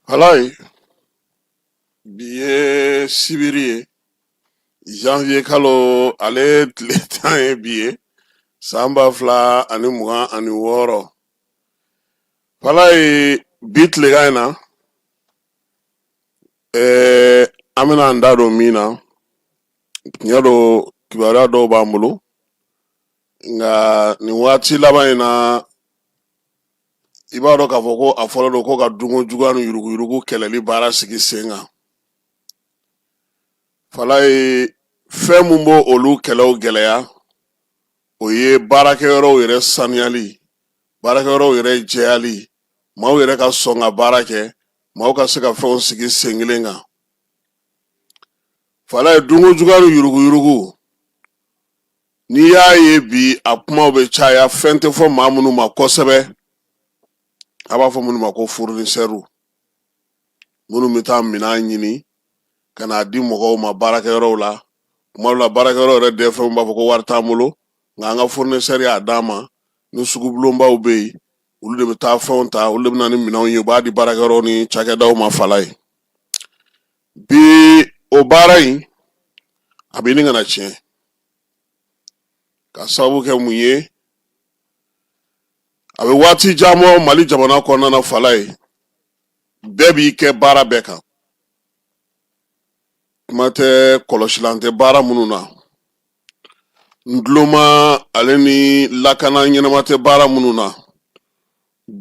Falayi bi ye sibiri ye janvier kalo ale tile tan ye bi ye san ba fila ani mugan ani wɔɔrɔ Falayi bi tilegan in na ɛɛ an bɛna an da don min na tiɲɛ don kibaruya dɔw b'an bolo nka nin waati laban in na i b'a dɔn k'a fɔ ko a fɔlen don ko ka dunko juguya ni yuruguyurugu kɛlɛli baara sigi sen kan Falayi fɛn min b'o olu kɛlɛw gɛlɛya o ye baarakɛyɔrɔw yɛrɛ saniyali baarakɛyɔrɔw yɛrɛ jɛyali maaw yɛrɛ ka sɔn ka baara kɛ maaw ka se ka fɛnw sigi sen kelen kan Falayi dunko juguya ni yuruguyurugu n'i y'a ye bi a kumaw bɛ caya fɛn tɛ fɔ maa minnu ma kosɛbɛ a b'a fɔ minnu ma ko fournisseurw minnu bɛ taa minɛn ɲini ka n'a di mɔgɔw ma baarakɛyɔrɔw la kuma dɔ la baarakɛyɔrɔ yɛrɛ DFMw b'a fɔ ko wari t'an bolo nka an ka fournisseur y'a d'an ma ni sugubulonbaw bɛ yen olu de bɛ taa fɛnw ta olu de bɛ na ni minɛnw ye u b'a di baarakɛyɔrɔw ni cakɛdaw ma Falayi bi o baara in a bɛ ɲini ka na tiɲɛ ka sababu kɛ mun ye a bɛ waati jan bɔ Mali jamana kɔnɔna na Falayi bɛɛ b'i kɛ baara bɛɛ kan kuma tɛ kɔlɔsilan tɛ baara minnu na nduloma ale ni lakana ɲɛnama tɛ baara minnu na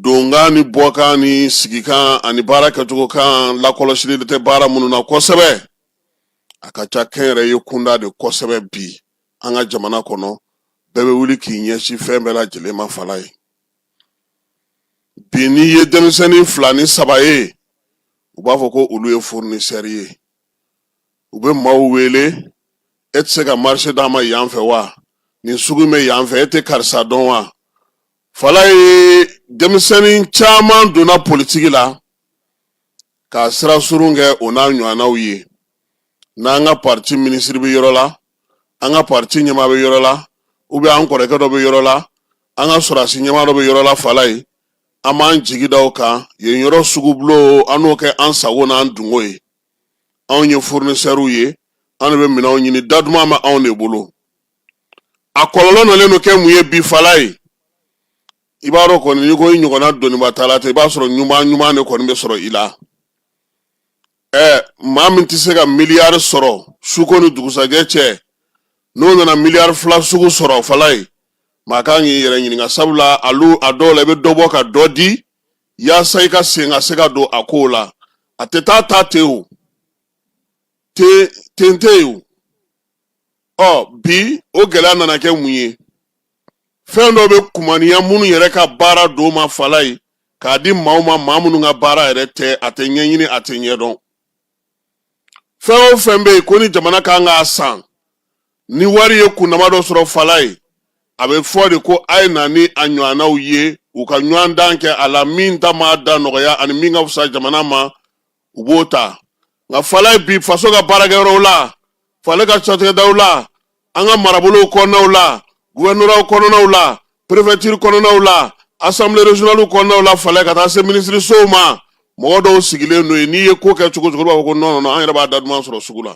donkan ni bɔkan ni sigikan ani baara kɛcogo kan lakɔlɔsili tɛ baara minnu na kosɛbɛ a ka ca kɛnyɛrɛye kunda de kosɛbɛ bi an ka jamana kɔnɔ bɛɛ bɛ wuli k'i ɲɛsin fɛn bɛɛ lajɛlen ma Falayi bi n'i ye denmisɛnnin fila ni saba ye u b'a fɔ ko olu ye fournisseur ye u bɛ maaw wele e tɛ se ka marché d'an ma yan fɛ wa nin sugu bɛ yan fɛ e tɛ karisa dɔn wa Falayi denmisɛnnin caman donna politiki la k'a sira surun kɛ o n'a ɲɔgɔnnaw ye n'an ka parti minisiri bɛ yɔrɔ la an ka parti ɲɛmaa bɛ yɔrɔ la ou bien an kɔrɔkɛ dɔ bɛ yɔrɔ la an ka sɔrɔdasi ɲɛmaa dɔ bɛ yɔrɔ la Falayi an b'an jigi da o kan yen yɔrɔ sugu bulon an n'o kɛ an sago n'an dungo ye anw ye fournisseurw ye an de bɛ minɛnw ɲini da duman bɛ anw de bolo a kɔlɔlɔ nalen don kɛ mun ye bi Falayi i b'a dɔn kɔni n'i ko i ɲɔgɔnna dɔnniba t'a la ten i b'a sɔrɔ ɲuman ɲuman de kɔni bɛ sɔrɔ i la ɛ maa min tɛ se ka miliyari sɔrɔ suko ni dugusajɛ cɛ n'o nana miliyari fila sugu sɔrɔ falayi maa kan k'i yɛrɛ ɲininka sabula alu a dɔw la i bɛ dɔ bɔ ka dɔ di yaasa i ka sen ka se ka don a kow la a tɛ taa ta ten o ten ten tɛ yen o ɔ bi o gɛlɛya nana kɛ mun ye fɛn dɔw bɛ kumaniya minnu yɛrɛ ka baara don ma falayi k'a di maaw ma maa minnu ka baara yɛrɛ tɛ a tɛ ɲɛɲini a tɛ ɲɛdɔn fɛn o fɛn bɛ yen ko ni jamana kan k'a san ni wari ye kunnama dɔ sɔrɔ falayi a bɛ fɔ de ko a ye na ni a ɲɔgɔnnaw ye u ka ɲɔgɔndan kɛ a la min ta maa da nɔgɔya ani min ka fisa jamana ma u b'o ta nka falayi bi faso ka baarakɛyɔrɔw la falayi ka cakɛdaw la an ka marabolow kɔnɔnaw la guwɛrɛnoraw kɔnɔnaw la perefɛtiri kɔnɔnaw la asanbile rezɔnaliw kɔnɔnaw la falayi ka taa se minisirisow ma mɔgɔ dɔw sigilen don yen n'i ye ko kɛ cogo o cogo u b'a fɔ ko nɔn nɔn an yɛrɛ b'a da duman sɔrɔ sugu la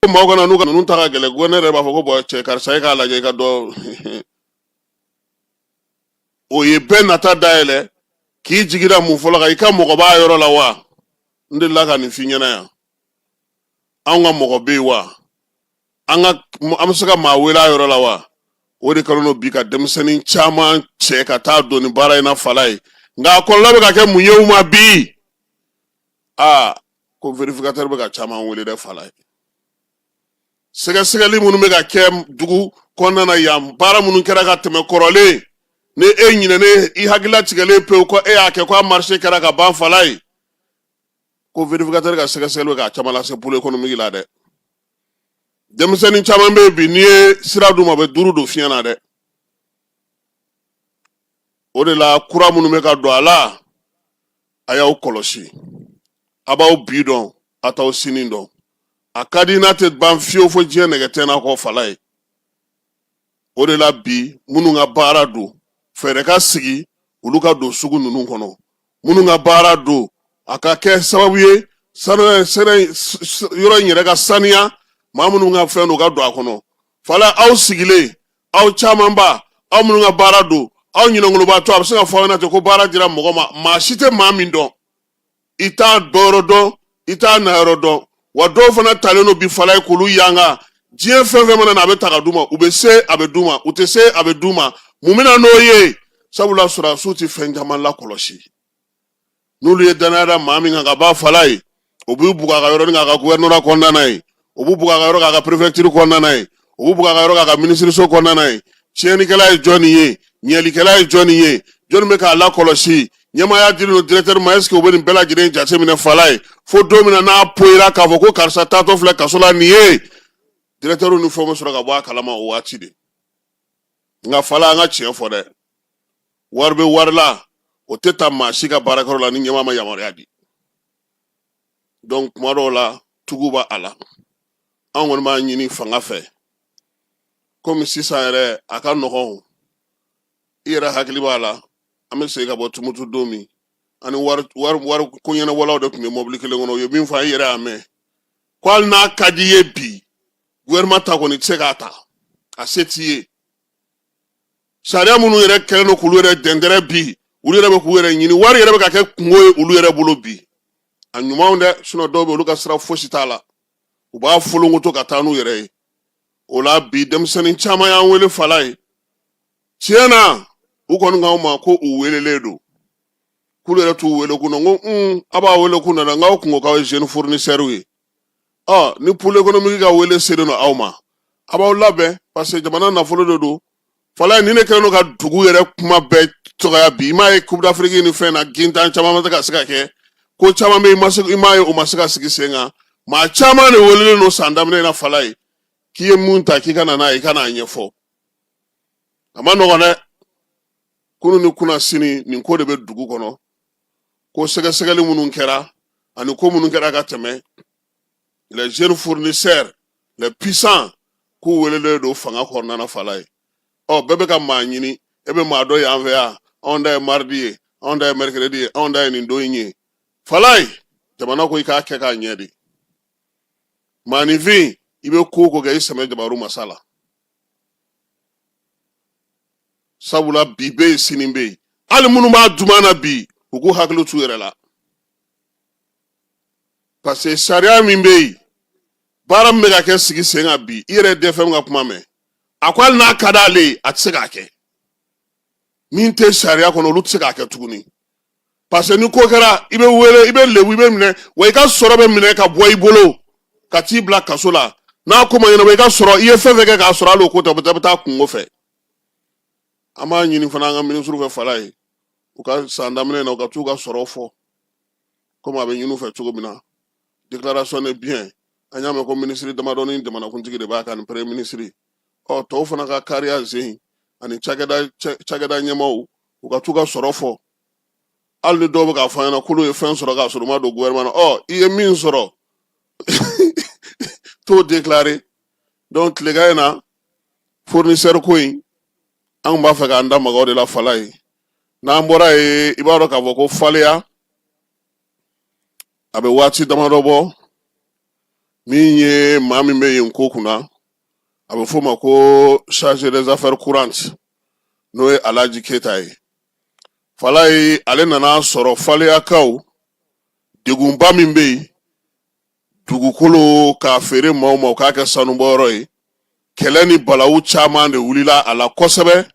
ko maaw kana n'u ka ninnu ta ka gɛlɛn ko ne yɛrɛ b'a fɔ ko bɔn cɛ karisa e k'a lajɛ i ka dɔ o ye bɛɛ nata dayɛlɛ k'i jigi da mun fɔlɔ kan i ka mɔgɔ b'a yɔrɔ la wa n delila ka nin f'i ɲɛna yan anw ka mɔgɔ bɛ yen wa an ka an bɛ se ka maa wele a yɔrɔ la wa o de kɛlen don bi ka denmisɛnnin caman cɛ ka taa don nin baara in na falayi nka a kɔlɔlɔ bɛ ka kɛ mun ye u ma bi aa ko verifikatɛri bɛ ka caman wele dɛ falayi sɛgɛsɛgɛli minnu bɛ ka kɛ dugu kɔnɔna na yan baara minnu kɛra ka tɛmɛ kɔrɔlen ni e ɲinɛnen i hakili latigɛlen pewu ko e y'a kɛ ko a marise kɛra ka ban falayi ko verifikatɛri ka sɛgɛsɛgɛli bɛ ka caman lase polo ekonomiki la dɛ denmisɛnnin caman bɛ yen bi n'i ye sira d'u ma u bɛ duuru don fiɲɛ na dɛ o de la kura minnu bɛ ka don a la a y'aw kɔlɔsi a b'aw bi dɔn a t'aw sini dɔn a ka di n'a tɛ ban fiyewu fo diɲɛ nɛgɛ tɛ n'a kɔ falayi o de la bi minnu ka baara don fɛɛrɛ ka sigi olu ka don sugu ninnu kɔnɔ minnu ka baara don a ka kɛ sababu ye yɔrɔ in yɛrɛ ka saniya maa minnu ka fɛn don ka don a kɔnɔ falayi aw sigilen aw camanba aw minnu ka baara don aw ɲinɛnkolobaatɔ a bɛ se ka fɔ aw ɲɛna ten ko baara dira mɔgɔ ma maa si tɛ maa min dɔn i t'a dɔyɔrɔ dɔn i t'a nayɔrɔ dɔn wa dɔw fana talen don bi falayi k'olu yanga diɲɛ fɛn fɛn mana na a bɛ ta ka d'u ma u bɛ se a bɛ d'u ma u tɛ se a bɛ d'u ma mun bɛna n'o ye sabula sɔrɔdasiw tɛ fɛn caman lakɔlɔsi n'olu ye dannaya da maa min kan kaban falaye o b'u bugɔ a ka yɔrɔnin k'a ka guvɛrinora kɔnɔna na ye o b'u bugɔ a ka yɔrɔ k'a ka perefɛgitiri kɔnɔna na ye o b'u bugɔ a ka yɔrɔ k'a ka minisiriso kɔnɔna na ye tiɲɛnikɛla ye jɔni ye ɲɛlikɛla ye jɔni ye jɔn bɛ k'a lakɔlɔsi ɲɛmaaya dilen don directeur ma est-ce que u bɛ nin bɛɛ lajɛlen jateminɛ falaye fo don min na n'a poyira k'a fɔ ko karisa taatɔ filɛ kaso la nin ye directeur ni fɛnw bɛ sɔrɔ ka bɔ a kalama o waati de nka fala an ka tiɲɛ fɔ dɛ wari bɛ wari la o tɛ taa maa si ka baarakɛyɔrɔ la ni ɲɛmaa ma yamaruya di donc kuma dɔw la tugu b'a a la an kɔni b'a ɲini fanga fɛ komi sisan yɛrɛ a ka nɔgɔn i yɛrɛ hakili b'a la an bɛ segin ka bɔ tumutu don min an ni wariko ɲɛnabɔlaw de tun bɛ mɔbili kelen kɔnɔ u ye min fɔ i yɛrɛ y'a mɛn ko hali n'a ka di i ye bi gouvernement ta kɔni tɛ se k'a ta a se t'i ye sariya minnu yɛrɛ kɛlen don k'olu yɛrɛ dɛndɛrɛ bi olu yɛrɛ bɛ k'u yɛrɛ ɲini wari yɛrɛ bɛ ka kɛ kunko ye olu yɛrɛ bolo bi a ɲumanw dɛ sinon dɔw bɛ olu ka sira fosi t'a la u b'a folonkoto ka taa n'u yɛrɛ ye o la bi denmisɛnnin caman y'an wele falaye tiɲɛ na u kɔni k'anw ma ko u welelen don k'olu yɛrɛ t'u wele kun na n ko un a b'a wele kun na dɛ n k'aw kun ko k'aw ye jeune fournisseur ye ɔ ni pôle économique ka wele selen don aw ma a b'aw labɛn parce que jamana nafolo de don falaye nin de kɛlen don ka dugu yɛrɛ kuma bɛɛ dɔgɔya bi i m'a ye coupe d'afrique ni fɛn na gintan caman ma se ka se ka kɛ ko caman bɛ i m'a ye o ma se ka sigi sen kan maa caman de welelen don san daminɛ na falaye k'i ye mun ta k'i ka na n'a ye i ka n'a ɲɛfɔ a ma nɔgɔn dɛ kunun ni kunasini nin ko de bɛ dugu kɔnɔ ko sɛgɛsɛgɛli minnu kɛra ani ko minnu kɛra ka tɛmɛ les jeunes fournisseurs les puissants k'u welelen don fanga kɔnɔna falaye ɔ bɛɛ bɛ ka maa ɲini e bɛ maa dɔn yan fɛ wa anw ta ye mardi ye anw ta ye mercredi ye anw ta ye nin don in ye falaye jamana ko i k'a kɛ k'a ɲɛ de maaninfin i bɛ ko o ko kɛ i sɛmɛ jabaru masa la sabula bi bɛ yen sini bɛ yen hali minnu b'a duman na bi u k'u hakili t'u yɛrɛ la parce que sariya min bɛ yen baara min bɛ ka kɛ sigi sen kan bi i yɛrɛ DFM ka kuma mɛn a ko hali n'a ka d'ale ye a tɛ se k'a kɛ min tɛ sariya kɔnɔ olu tɛ se k'a kɛ tuguni parce que ni ko kɛra i bɛ wele i bɛ lebu i bɛ minɛ wa i ka sɔrɔ bɛ minɛ ka bɔ i bolo ka t'i bila kaso la n'a ko ma ɲɛnabɔ i ka sɔrɔ i ye fɛn fɛn kɛ k'a sɔrɔ hali o ko tɛ bɛ taa kungo fɛ an b'a ɲini fana an ka minisiriw fɛ falaye u ka san daminɛ na u ka t'u ka sɔrɔ fɔ komi a bɛ ɲini u fɛ cogo min na déclaration de bien an y'a mɛn ko minisiri damadɔ ni jamanakuntigi de b'a kan ni premier minisiri ɔ tɔw fana ka kariya zen ani cakɛda ɲɛmaaw u ka t'u ka sɔrɔ fɔ hali ni dɔw bɛ k'a fɔ an ɲɛna k'olu ye fɛn sɔrɔ k'a sɔrɔ u ma don gouvernement na ɔ i ye min sɔrɔ t'o déclarer donc tilegan in na fournisseur ko in an tun b'a fɛ k'an da maga o de la Falaye n'an bɔra yen i b'a dɔn k'a fɔ ko Faleya a bɛ waati damadɔ bɔ min ye maa min bɛ yen ko kunna a bɛ f'o ma ko chargé des affaires courantes n'o ye Alaji Keyita ye Falaye ale nana sɔrɔ Faleyakaw degunba min bɛ yen dugukolo k'a feere maaw ma u k'a kɛ sanubɔyɔrɔ ye kɛlɛ ni balawu caman de wulila a la kosɛbɛ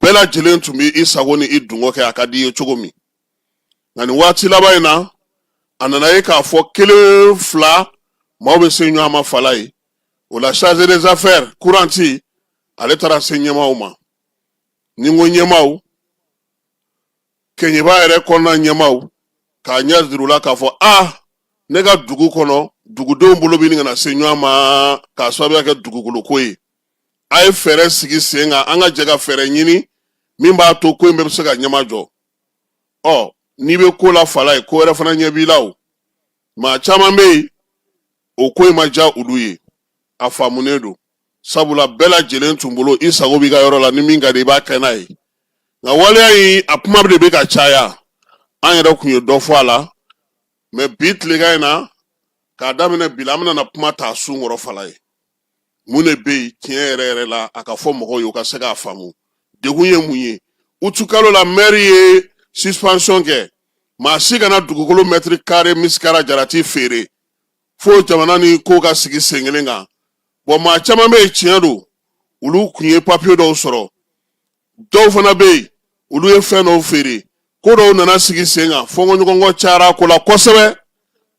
bɛɛ lajɛlen tun bɛ i sago ni i dungo kɛ a ka di i ye cogo min nka nin waati laban in na a nana ye k'a fɔ kelen fila maaw bɛ se ɲɔgɔn ma Falaye o la chargé des affaires courantes ale taara se ɲɛmaaw ma ni n ko ɲɛmaaw Kɛɲɛba yɛrɛ kɔnɔna ɲɛmaaw k'a ɲɛ jira u la k'a fɔ a ne ka dugu kɔnɔ dugudenw bolo bɛ ɲini ka na se ɲɔgɔn ma k'a sababuya kɛ dugukolo ko ye a ye fɛɛrɛ sigi sen kan an ka jɛ ka fɛɛrɛ ɲini min b'a to ko in bɛɛ bɛ se ka ɲɛma jɔ ɔ n'i bɛ ko la Falaye ko wɛrɛ fana ɲɛ b'i la o maa caman bɛ yen o ko in ma diya olu ye a faamunen don sabula bɛɛ lajɛlen tun bolo i sago b'i ka yɔrɔ la ni min ka di i b'a kɛ n'a ye nka waleya in a kuma de bɛ ka caya an yɛrɛ kun ye dɔ fɔ a la mais bi tilegan in na k'a daminɛ bi la an bɛna kuma ta sun kɔrɔ Falaye mun de bɛ yen tiɲɛ yɛrɛ yɛrɛ la a ka fɔ mɔgɔw ye u ka se k'a faamu degun ye mun ye utukalo la mɛri ye suspension kɛ maa si kana dugukolo mɛtiri kare misikara jarati feere fo jamana ni ko ka sigi sen kelen kan bon maa caman bɛ yen tiɲɛ don olu kun ye papiye dɔw sɔrɔ dɔw fana bɛ yen olu ye fɛn dɔw feere ko dɔw nana sigi sen kan fɔnkɔɲɔgɔnkɔ cayara ko la kosɛbɛ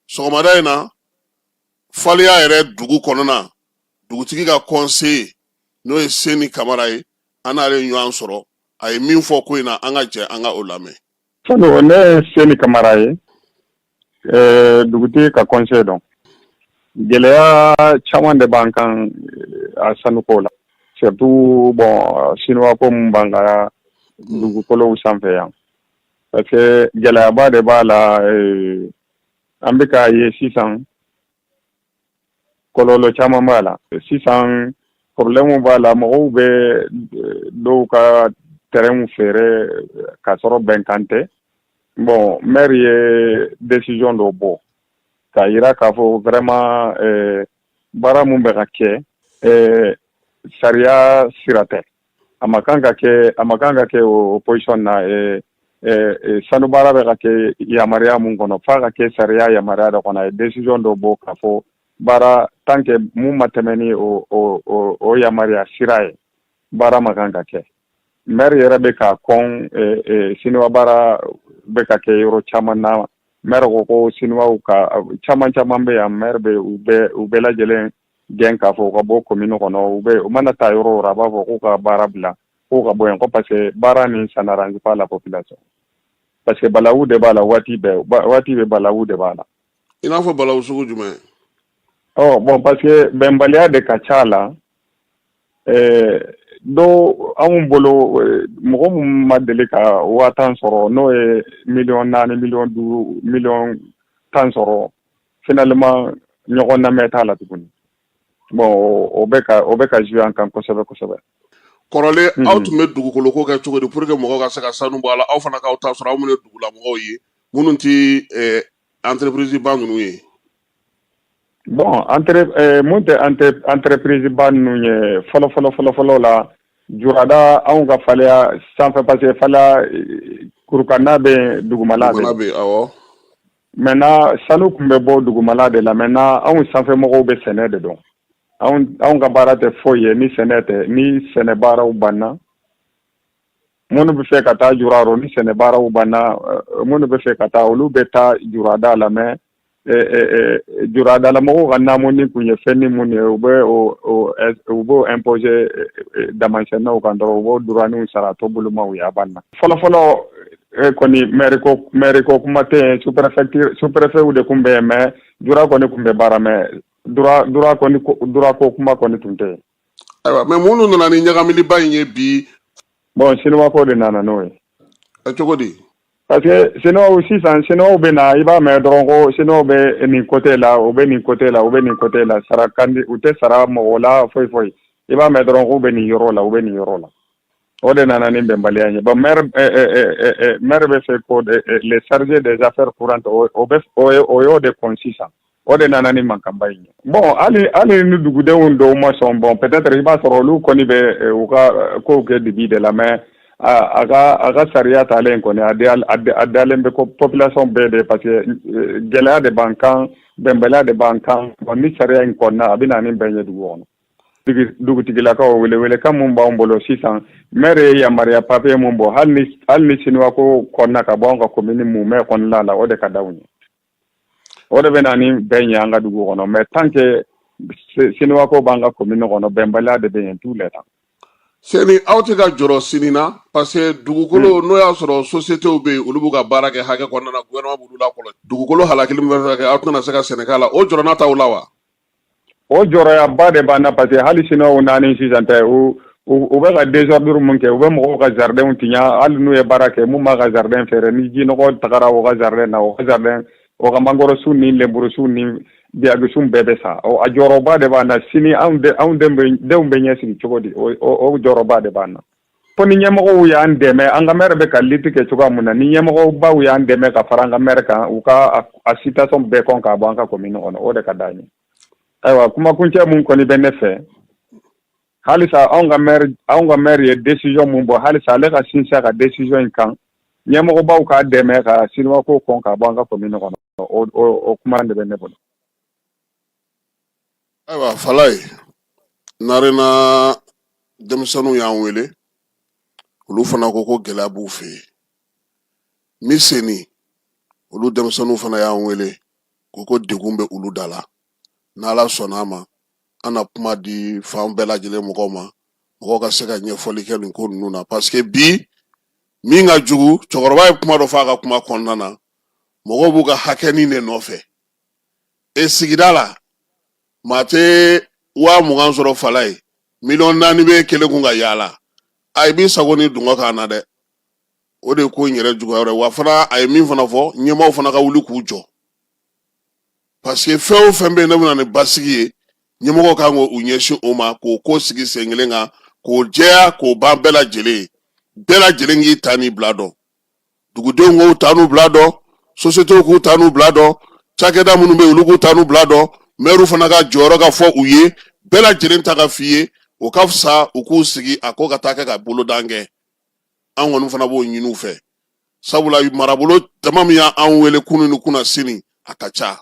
sɔgɔmada in na Faleya yɛrɛ dugu kɔnɔna dugutigi ka conseiller n'o ye Seni Kamara ye an n'ale ɲɔgɔn sɔrɔ a ye min fɔ ko in na an ka jɛ an ka o lamɛn Falo ne Seni Kamara ye eh, dugutigi ka kɔnse don gɛlɛya caman de b'an kan eh, a sanuko la surtout bon sinuwako min b'an ka dugukolow sanfɛ yan parce que gɛlɛyaba de b'a la eh, an bɛ k'a ye sisan kɔlɔlɔ caman b'a la sisan problème b'a la mɔgɔw bɛ dɔw ka terrainw feere k'a sɔrɔ bɛnkan tɛ bon maire ye décision dɔ bɔ k'a yira k'a fɔ vraiment baara mun bɛ ka kɛ sariya sira tɛ a ma kan ka kɛ a ma kan ka kɛ o position na eh, eh, eh, sanu baara bɛ ka kɛ yamaruya mun kɔnɔ f'a ka kɛ sariya yamaruya dɔ kɔnɔ a ye décision dɔ bɔ k'a fɔ baara tant que mun ma tɛmɛ ni o o o o yamaruya sira ye baara ma kan ka kɛ maire yɛrɛ bɛ ka kɔn eh, eh, siniwa baara bɛ ka kɛ yɔrɔ caman na maire ko ko siniwaw ka caman caman bɛ yan maire bɛ u bɛɛ u bɛɛ lajɛlen gɛn k'a fɔ u ka bɔ commune kɔnɔ u bɛ u mana taa yɔrɔ o yɔrɔ a b'a fɔ k'u ka baara bila k'u ka bɔ yen ko parce que baara nin ça n'arrange pas la population parce que balawu de b'a la waati bɛɛ waati bɛɛ balawu de b'a la i n'a fɔ balawu sugu jumɛn ɔ bon parce que bɛnbaliya de ka ca a la eh, dɔw anw bolo eh, mɔgɔ min ma deli ka waa tan sɔrɔ n'o ye miliyɔn naani miliyɔn duuru miliyɔn tan sɔrɔ finalement ɲɔgɔn namɛn t'a la tuguni bon o bɛ ka o bɛ ka jouer an kan kosɛbɛ kosɛbɛ kɔrɔlen mhm. aw tun bɛ dugukolo ko kɛ cogo di pour que mɔgɔw ka se ka sanu bɔ a la aw fana k'aw ta sɔrɔ aw minnu ye dugulamɔgɔw ye minnu tɛ eh, entreprise ba ninnu ye bon entre eh, mun tɛ entre entreprise ba ninnu ye fɔlɔ fɔlɔ fɔlɔ fɔlɔ la jurada anw ka faleya sanfɛ parce que faleya kurukanna bɛ dugumala bɛ awɔ maintenant sanu kun bɛ bɔ dugumala de la maintenant anw sanfɛ mɔgɔw bɛ sɛnɛ de dɔn anw ka baara tɛ foyi ye ni sɛnɛ tɛ ni sɛnɛ baaraw banna minnu bɛ fɛ ka taa jura ni sɛnɛ baaraw banna minnu bɛ fɛ ka taa olu bɛ taa jurada la mais juradalamɔgɔw ka naamu nin tun ye fɛn ni minnu ye u bɛ u b'o imposer damansenninaw kan dɔrɔn u b'o droit sara tɔnbolomaw ye a banna fɔlɔfɔlɔ e kɔni maire ko maire ko kuma tɛ yen sous préfecture sous préfet de kun bɛ yen mais jura kɔni kun bɛ baara mais jura jura kɔni jura ko kuma kɔni tun tɛ yen. ayiwa mais minnu nana ni ɲagamiliba in ye bi. bon siniwa ko de nana n'o ye. ɛ cogo di. parce que siniwaw sisan siniwaw bɛ na i b'a mɛn dɔrɔn ko siniwaw bɛ nin côté la u bɛ nin côté la u bɛ nin côté la sara kandi u tɛ sara mɔgɔ la foyi foyi i b'a mɛn dɔrɔn k'u bɛ nin yɔrɔ la u bɛ nin yɔrɔ la. o de nana ni bɛnbaliya ye bɔn mɛri bɛ fɛ ko les chargés des affaires courantes o y'o de kɔn sisan o de nana ni mankanba in ye bɔn hali hali ni dugudenw dɔw ma sɔn bɔn peut-être i b'a sɔrɔ olu kɔni bɛ u ka kow kɛ dibi de la mais a ka a ka sariya taalen kɔni a dalen bɛ ko population bɛɛ de parce que gɛlɛya de b'an kan bɛnbaliya de b'an kan bɔn ni sariya in kɔnɔna a bɛ na ni bɛn ye dugu kɔnɔ dugutigilakaw wele welekan mun b'an bolo sisan mɛri ye yamaruya papiye mun bɔ hali ni hali ni siniwa ko kɔnɔna ka bɔ an ka komini mumɛ kɔnɔna la o de ka d'anw ye o de bɛ na ni bɛn ye an ka dugu kɔnɔ mais tant que siniwa ko b'an ka komini kɔnɔ bɛnbaliya de bɛ yen tout le temps sɛni aw tɛ ka jɔrɔ sini na parce que dugukolo hmm. n'o y'a sɔrɔ sociétéw bɛ yen olu b'u ka baara kɛ hakɛ kɔnɔna na gouvernement b'olu lakɔlɔsi dugukolo halakili min bɛ fɛ ka kɛ aw tɛna se ka sɛnɛ k'a la o jɔrɔna t'aw la wa o jɔrɔyaba de b'an na parce que hali siniwaw nanin sisan tɛ u u bɛ ka désordre mun kɛ u bɛ mɔgɔw ka jardinw tiɲɛ hali n'u ye baara kɛ mun m'a ka jardin feere ni jinɔgɔ tagara o ka jardin na o ka jardin o ka mangorosun ni lenburusun ni biyakisun bɛɛ bɛ sa a jɔrɔba de b'an na sini anw denw bɛ ɲɛsigi cogo di o jɔrɔba de b'an na fo ni ɲɛmɔgɔw y'an dɛmɛ an ka mɛri bɛ ka lutte kɛ cogoya mun na ni ɲɛmɔgɔbaw y'an dɛmɛ ka fara an ka mɛri kan u ka a situation bɛɛ kɔn k'a bɔ an ka komini kɔnɔ o de ka d'an ye ayiwa kumakuncɛ mun kɔni bɛ ne fɛ halisa anw ka mɛri anw ka mɛri ye desizɔn mun bɔ halisa ale ka sinsin a ka desizɔn in kan ɲɛmɔgɔbaw k'a dɛmɛ ka siniwa ko kɔn k'a bɔ an ka komini kɔnɔ o kuma de bɛ ne bolo ayiwa falayi narena denmisɛnninw y'an wele olu fana ko ko gɛlɛya b'u fɛ yen miseni olu denmisɛnninw fana y'an wele ko ko degun bɛ olu da la n'ala sɔnna a ma an na kuma di fan bɛɛ lajɛlen mɔgɔw ma mɔgɔw ka se ka ɲɛfɔli kɛ nin ko ninnu na paseke bi min ka jugu cɛkɔrɔba ye kuma dɔ fɔ a ka kuma kɔnɔna na mɔgɔw b'u ka hakɛnin de nɔfɛ e sigida la maa tɛ waa mugan sɔrɔ falayi miliyɔn naani bɛ kelen kun ka yaala a i b'i sago ni dungɔ kan na dɛ o de ko in yɛrɛ juguya wɛrɛ wa fana a ye min fana fɔ ɲɛmaaw fana ka wuli k'u jɔ parce que fɛn o fɛn bɛ yen n'a bɛna ni basigi ye ɲɛmɔgɔw kan k'u ɲɛsin o ma k'o ko sigi sen kelen kan k'o jɛya k'o ban bɛɛ lajɛlen ye bɛɛ lajɛlen k'i ta ni bila dɔn dugudenw k'u ta n'u bila dɔn sosiyetew k'u ta n'u bila dɔn cakɛda minnu bɛ yen olu k'u ta n'u bila dɔn mɛri fana ka jɔyɔrɔ ka fɔ u ye bɛɛ lajɛlen ta ka f'i ye o ka fisa u k'u sigi a ko ka taa kɛ ka bolodan kɛ an kɔni fana b'o ɲini u fɛ sabula marabolo jama min y'an wele kunu ni kunasini a ka ca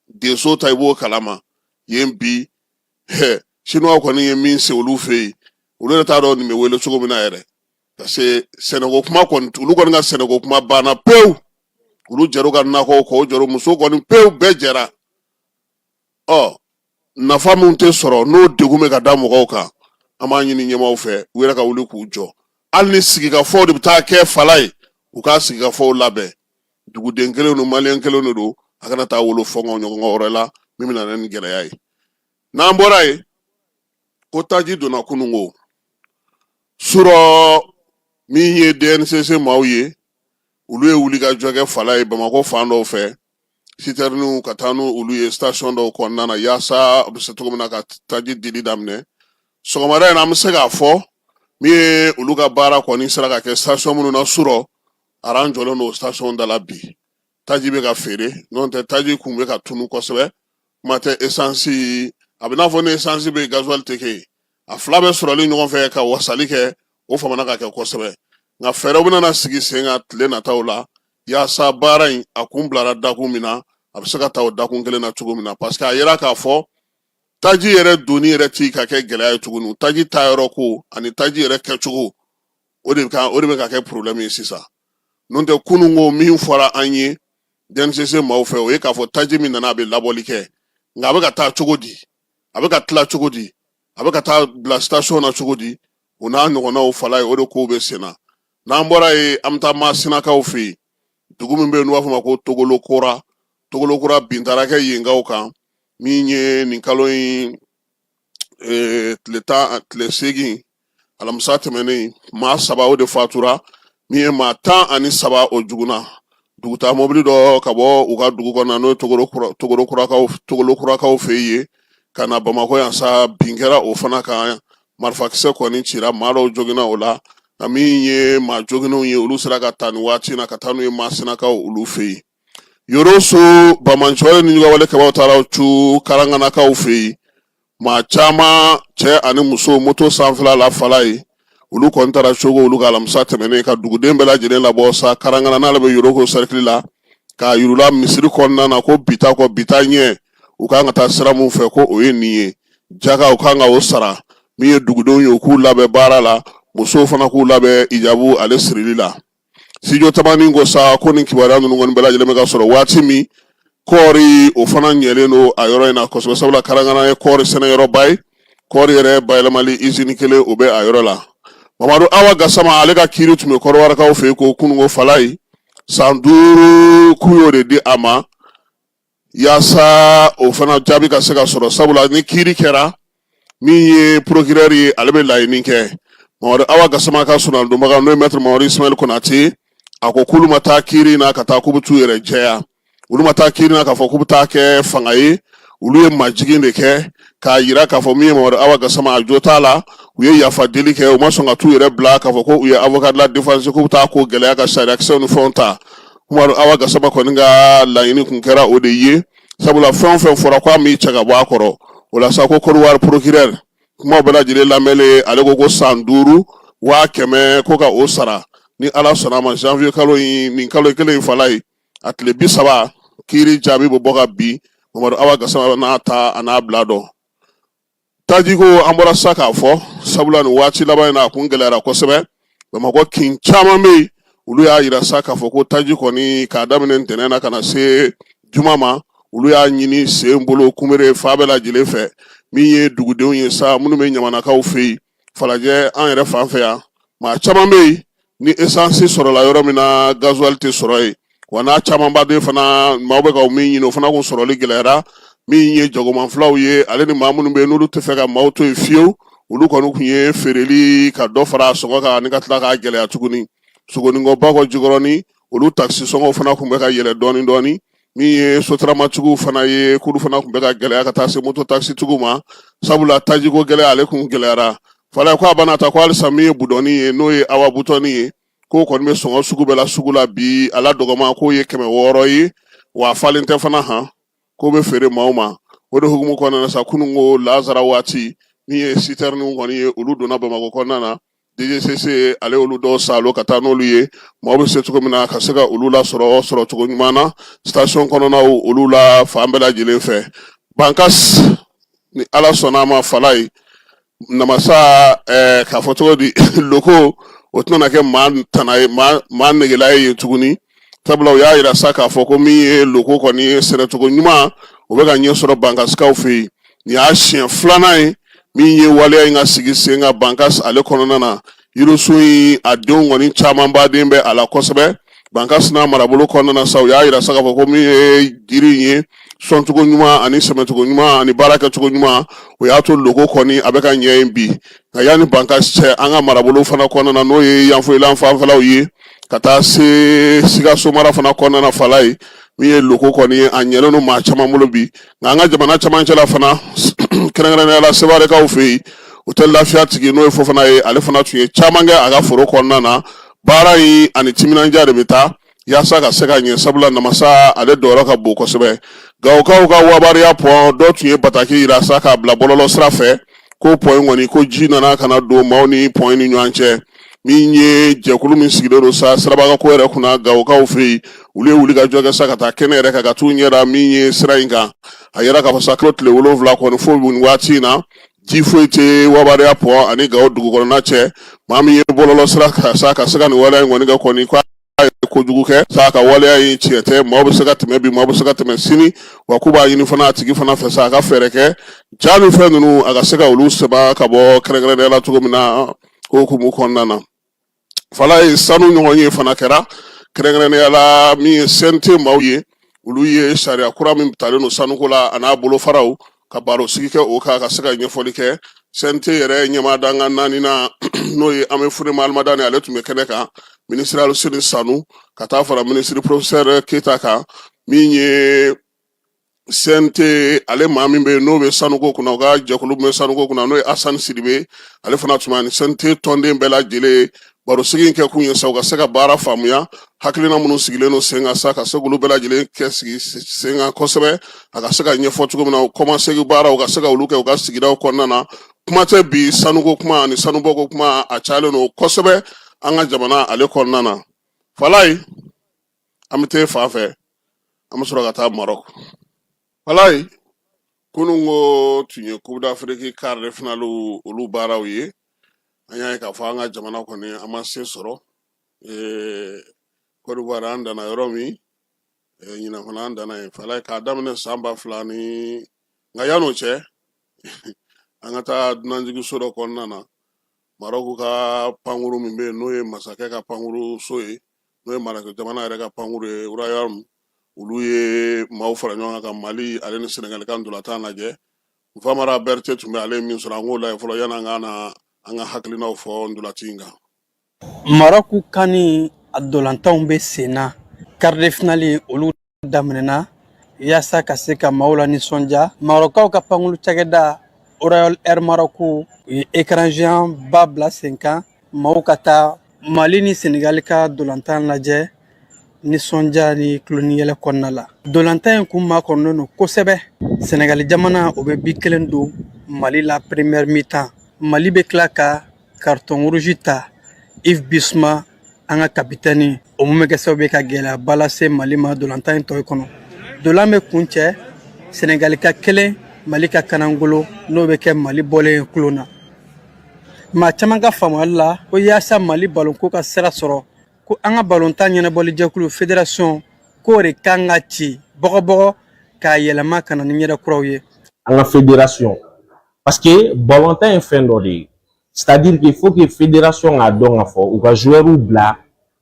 denso ta i b'o kalama yen bi siniwaw kɔni ye min se olu fɛ yen olu yɛrɛ t'a dɔn nin bɛ wele cogo min na yɛrɛ parce que sɛnɛko kuma kɔni olu kɔni ka sɛnɛko kuma banna pewu olu jɛr'u ka nakɔw kɔ o jɛr'u muso kɔni pewu bɛɛ jɛra ɔ nafa min tɛ sɔrɔ n'o degun bɛ ka da mɔgɔw kan an b'a ɲini ɲɛmaaw fɛ u yɛrɛ ka wuli k'u jɔ hali ni sigikafɔw de bɛ taa kɛ fala ye u ka sigikafɔw labɛn duguden kelen don maliyɛn kelen de don a kana taa wolo fɔngɔ ɲɔgɔn wɛrɛ la min bɛ na ni gɛlɛya ye n'an bɔra yen ko taji donna kununko surɔ min ye DNCC maaw ye olu ye wulikajɔ kɛ fala ye bamakɔ fan dɔw fɛ sitɛriniw ka taa ni olu ye station dɔw kɔnɔna na yaasa a bɛ se cogo min na ka taji dili daminɛ sɔgɔmada in na an bɛ se k'a fɔ min ye olu ka baara kɔni sera ka kɛ station minnu na surɔ aran jɔlen don station da la bi taji bɛ ka feere n'o tɛ taji kun bɛ ka tunu kosɛbɛ kuma tɛ esansi a bɛ n'a fɔ ni esansi bɛ gazuwali tɛ kɛ yen a fila bɛɛ sɔrɔli ɲɔgɔn fɛ ka wasali kɛ o famana ka kɛ kosɛbɛ nka fɛɛrɛw bɛna sigi sen kan tile nataw la yaasa baara in a kun bilara dakun min na a bɛ se ka taa o dakun kelen na cogo min na parce que a yera k'a fɔ taji yɛrɛ donni yɛrɛ ti ka kɛ gɛlɛya ye tuguni taji ta yɔrɔ ko ani taji yɛrɛ kɛcogo o de bɛ ka kɛ problème ye sisan n'o tɛ kunun ko min fɔra an ye DNCC maaw fɛ o ye k'a fɔ taji min nana a bɛ labɔli kɛ nka a bɛ ka taa cogo di a bɛ ka tila cogo di a bɛ ka taa bila station na cogo di o n'a ɲɔgɔnnaw fala ye o de kow bɛ sen na n'an bɔra yen an bɛ taa Masinakaw fɛ yen dugu min bɛ yen n'u b'a fɔ o ma ko Togolo Kura bin taara kɛ yenkaw kan min ye nin kalo in tile seegin alamisa tɛmɛnen maa saba o de fatura min ye maa tan ani saba o joginna dugutaa mɔbili dɔ ka bɔ u ka dugu kɔnɔna n'o ye togolo kurakaw fɛ yen ka na bamakɔ yan sa bin kɛra o fana kan marifakisɛ kɔni cira maa dɔw joginna o la nka min ye maa joginnenw ye olu sera ka taa nin waati na ka taa n'u ye masinakaw olu fɛ yen Yoroso banbaanci wale nijuguya wale kɛbaw taara cun karanganakaw fɛ yen maa caman cɛ ani muso moto sanfɛla la fala ye olu kɔni taara cogo olu ka alamisa tɛmɛnen ka duguden bɛɛ lajɛlen labɔ sa karangana n'ale bɛ yoroko sɛrikili la k'a yir'u la misiri kɔnɔna na ko bi taa kɔ bi taa ɲɛ u kan ka taa sira min fɛ ko o ye nin ye jaka u kan ka o sara min ye dugudenw ye u k'u labɛn baara la musow fana k'u labɛn ijabu ale sirili la studio tamani ko sa ko nin kibaruya ninnu kɔni bɛɛ lajɛlen bɛ ka sɔrɔ waati min kɔɔri o fana ɲɛlen don a yɔrɔ in na kosɛbɛ sabula karangana ye kɔɔri sɛnɛyɔrɔba ye kɔɔri yɛrɛ bayɛlɛmali izini kelen o bɛ a yɔrɔ la mamadu awa gasama ale ka kiiri tun bɛ kɔrɔwarakaw fɛ yen ko kununko fala ye san duuru k'u y'o de di a ma yaasa o fana jaabi ka se ka sɔrɔ sabula ni kiiri kɛra min ye procureur ye ale bɛ laɲini kɛ mamadu awa gasama ka soronadonbaga n'o ye maître mamadu ismail konate a ko k'olu ma taa kiiri na ka taa k'u bɛ t'u yɛrɛ jɛya olu ma taa kiiri na k'a fɔ k'u bɛ taa kɛ fanga ye olu ye majigin de kɛ k'a yira k'a fɔ min ye mamadu awa gasama a jo t'a la u ye yafa deli kɛ u ma sɔn ka t'u yɛrɛ bila k'a fɔ ko u ye avocat de la défense k'u bɛ taa ko gɛlɛya ka sariyakisɛw ni fɛnw ta mamadu awa gasama kɔni ka laɲini kun kɛra o de ye sabula fɛn o fɛn fɔra ko a m'i cɛ ka bɔ a kɔrɔ o la sa ko kɔrɔwari procureur kuma bɛɛ lajɛlen lamɛnlen ale ko ko san duuru waa kɛmɛ ko ka o sara ni ala sɔnna a ma janvier kalo in nin kalo kelen in fala ye a tile bi saba kiiri jaabi bɛ bɔ ka bi mamadu awa gasama n'a ta a n'a bila dɔn tajiko an bɔra sa k'a fɔ sabula nin waati laban in na a kun gɛlɛyara kosɛbɛ bamakɔ kin caman bɛ yen olu y'a yira sa k'a fɔ ko taji kɔni k'a daminɛ ntɛnɛn na ka na se juma ma olu y'a ɲini sen bolo kunbere fan bɛɛ lajɛlen fɛ min ye dugudenw ye sa minnu bɛ ɲamanakaw fɛ yen falajɛ an yɛrɛ fan fɛ yan maa caman bɛ yen ni esansi sɔrɔla yɔrɔ min na gazuwali tɛ sɔrɔ yen wa n'a camanba de fana maaw bɛ ka min ɲini o fana kun sɔrɔli gɛlɛyara min ye jagoman filaw ye ale ni maa minnu bɛ yen n'olu tɛ fɛ ka maaw to yen fiyewu olu kɔni kun ye feereli ka dɔ fara sɔngɔ kan ani ka tila k'a gɛlɛya tuguni sogoninkɔ bakɔ jikɔrɔni olu takisisɔngɔw fana kun bɛ ka yɛlɛ dɔɔni dɔɔni min ye sotaramatigiw fana ye k'olu fana kun bɛ ka gɛlɛya ka taa se moto takisitigiw ma sabula tajiko gɛlɛya ale kun gɛlɛyara fala ye ko a bana ta ko halisa min ye budɔni ye n'o ye awa butɔni ye k'o kɔni bɛ sɔngɔ sugu bɛɛ la sugu la bi a la dɔgɔman k'o ye kɛmɛ wɔɔrɔ ye wa falen tɛ fana han k'o bɛ feere maaw ma o de hukumu kɔnɔna na sa kunun ko laansara waati min ye sitɛriniw kɔni ye olu donna bamakɔ kɔnɔna na DGCC ale olu dɔw salo ka taa n'olu ye mɔgɔ bɛ se cogo min na ka se ka olu la sɔrɔ sɔrɔ cogo ɲuman na station kɔnɔnaw olu la fan bɛɛ lajɛlen fɛ bankas ni ala sɔnna a ma fala ye namasa ɛɛ eh, k'a fɔ cogo di loko o tɛna kɛ maa tana ye maa maa negela ye yen tuguni sabula u y'a yira sa k'a fɔ ko min ye loko kɔni ye sɛnɛcogo ɲuman o bɛ ka ɲɛ sɔrɔ bankasikaw fɛ yen nin y'a siɲɛ filanan ye min ye waleya in ka sigi sen kan bankas ale kɔnɔna na yirisun in a denw kɔni camanba de bɛ a la kosɛbɛ bankas n'a marabolo kɔnɔna na sa u y'a yira sa k'a fɔ ko min ye jiri in ye sɔncogo ɲuman ani sɛmɛcogo ɲuman ani baara kɛcogo ɲuman o y'a to loko kɔni a bɛ ka ɲɛ yen bi nka yanni bankasi cɛ an ka marabolo fana kɔnɔna na n'o ye yanfoyila fanfɛlaw ye ka taa se sikaso mara fana kɔnɔna na fala ye min ye loko kɔni ye a ɲɛlen don maa caman bolo bi nka an ka jamana camancɛ la fana kɛrɛnkɛrɛnnenya la sewarekaw fɛ yen otɛli lafiya tigi n'o ye fofana ye ale fana tun ye caman kɛ a ka foro kɔnɔna na baara in ani timinandiya de bɛ taa yaasa ka se ka ɲɛ sabula namasa ale dɔyɔrɔ ka bon kosɛbɛ gawokaw ka wabariya pɔn dɔ tun ye bataki yira sa k'a bila bɔlɔlɔ sira fɛ ko pɔn in kɔni ko ji nana ka na don maaw ni pɔn ni ɲɔgɔn cɛ min ye jɛkulu min sigilen don sa sirabagako yɛrɛ kunna gawokaw fɛ yen olu ye wuli ka jɔ kɛ sa ka taa kɛnɛ yɛrɛ kan ka t'u ɲɛda min ye sira in kan a yira k'a fɔ sa kilo tile wolonwula kɔni fo nin waati in na ji foyi tɛ wabariya pɔn ani gawo dugu kɔnɔna cɛ maa min ye bɔlɔlɔ sira kan sa ka se ka nin waleya in kɔni kɛ kɔni k'a ye kojugu kɛ sa ka waleya in tiɲɛ tɛ maaw bɛ se ka tɛmɛ bi maaw bɛ se ka tɛmɛ sini wa k'u b'a ɲini fana a tigi fana fɛ sa a ka fɛɛrɛ kɛ ja ni fɛn ninnu a ka se ka olu sama ka bɔ kɛrɛnkɛrɛnnenya la cogo min na o hukumu kɔnɔna na fala ye sanu ɲɔgɔnye fana kɛra kɛrɛnkɛrɛnnenya la min ye sente maaw ye olu ye sariya kura min talen don sanuko la a n'a bolofaraw ka barosigi kɛ o kan ka se ka ɲɛfɔli kɛ sente yɛrɛ ɲɛmaa dankan naaninan n'o ye amɛyi fune mahalimadani ale tun bɛ kɛnɛ kan minisiri aluseni sanu ka taa fara minisiri porofisɛrɛ keyita kan min ye sente ale maa min bɛ n'o bɛ sanuko kunna o ka jɛkulu bɛ sanuko kunna n'o ye asani sidibe ale fana tun bɛ ni sente tɔnden bɛɛ lajɛlen barosigi in kɛ kun ye sa u ka se ka baara faamuya hakilina minnu sigilen don sen kan sa ka se k'olu bɛɛ lajɛlen kɛ sigi sen kan kosɛbɛ a ka se ka ɲɛfɔ cogo min na o kɔmasegi baara u ka se ka olu kɛ u ka sigidaw kɔnɔna na kuma tɛ bi sanuko kuma ani sanubɔko kuma a cayalen don kosɛbɛ an ka jamana ale kɔnɔna na falayi an bɛ taa fan fɛ an bɛ sɔrɔ ka taa marɔk falayi kunun ko tun ye kupu dafiriki kari de finaliw olu baaraw ye an y'a ye k'a fɔ an ka jamana kɔni an ma se sɔrɔ kɔdiwari an danna yɔrɔ min ɲinan fana an danna yen fala k'a daminɛ san ba fila ni nka yan'o cɛ an ka taa dunanjigiso dɔ kɔnɔna na marɔku ka pankuru min bɛ yen n'o ye masakɛ ka pankuru so ye n'o ye marɔku jamana yɛrɛ ka pankuru ye ruwayali olu ye maaw fara ɲɔgɔn kan ka mali ale ni senegali ka ndolatan lajɛ nfamara berete tun bɛ ale ye min sɔrɔ an k'o lajɛ fɔlɔ yan'an ka na an ka hakilinaw fɔ ndolaci in kan marɔku kan ni a ndolatanw bɛ sen na karidefinali olu daminɛna yaasa ka se ka maaw la nisɔndiya marɔkaw ka pankulu cakɛda royal air maroc u ye écran géant ba bila sen kan maaw ka taa mali ni senegali ka dolantan lajɛ nisɔndiya ni tulon ni yɛlɛ kɔnɔna la dolantan in kun makɔnɔlen don kosɛbɛ senegali jamana o bɛ bi kelen don mali la première mi-temps mali bɛ tila ka carton rouge ta yves bissouma an ka kapitɛni o mun bɛ kɛ sababu ye ka gɛlɛyaba lase mali ma dolantan in tɔ kɔnɔ dolan bɛ kuncɛ sɛnɛgali ka kelen mali ka kanangolo n'o bɛ kɛ mali bɔlen ye tulon na maa caman ka faamuyali la ko yaasa mali balonko ka sira sɔrɔ ko an ka balontan ɲɛnabɔli jɛkulu fédération k'o de kan ka ci bɔgɔbɔgɔ k'a yɛlɛma ka na ni ɲɛda kuraw ye an ka fédération parce que balontan ye fɛn dɔ de ye c'est à dire qu'il faut que fédération k'a dɔn k'a fɔ u ka joueurs bila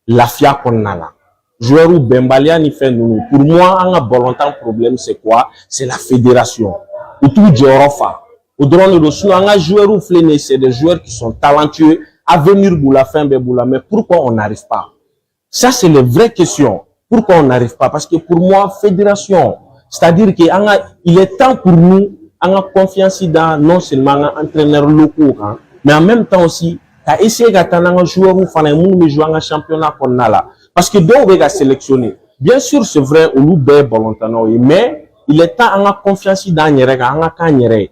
lafiya kɔnɔna la joueurs bɛnbaliya ni fɛn ninnu pour moi an ka balontan problème c'est quoi c'est la fédération u t'u jɔyɔrɔ fa o dɔrɔn de don sinon an ka joueurs filɛ nin ye c'est des joueurs qui sont talentueux avenir b'u la fɛn bɛɛ b'u la mais pourquoi on n'arrive pas ça c'est les vraies questions pourquoi on n'arrive pas parce que pour moi fédération c'est-à-dire que il est temps pour nous an ka confiance da non seulement an ka entraîneurs locaux kan mais en même temps aussi ka essayer ka taa n'an ka joueurs fana ye minnu bɛ jouer an ka championnat kɔnɔna la parce que dɔw bɛ ka sélectionner bien sûr c'est vrai olu bɛɛ ye balontannaw ye mais il est temps an ka confiance d'an yɛrɛ kan an ka k'an yɛrɛ ye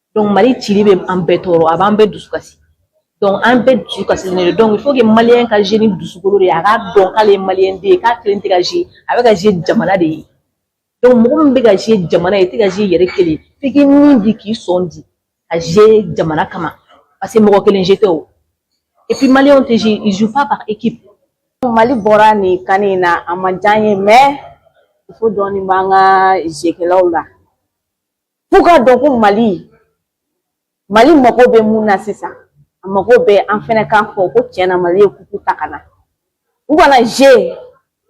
mali cili bɛ an bɛɛ tɔɔrɔ a b'an bɛɛ dusu kasi an bɛɛ dusu kasilen don il faut que maliens ka jouer ni dusukolo de ye a k'a dɔn k'ale maliden ye k'a kelen tɛ ka jouer a bɛ ka jouer jamana de ye donc mɔgɔ min bɛ ka jouer jamana ye i tɛ ka jouer i yɛrɛ kelen f'i k'i ni di k'i sɔn di ka jouer jamana kama parce que mɔgɔ kelen jouer tɛ et puis mali tɛ jouer ils jouent pas par équipe mali bɔra nin kan in na a ma diya an ye mais faute dɔɔnin b'an ka jouerkɛlaw la F'u k'a dɔn ko Mali Mali mago bɛ mun na sisan a mago bɛ an fɛnɛ k'a fɔ ko tiɲɛ na Mali ye coupe ta ka na u kana jouer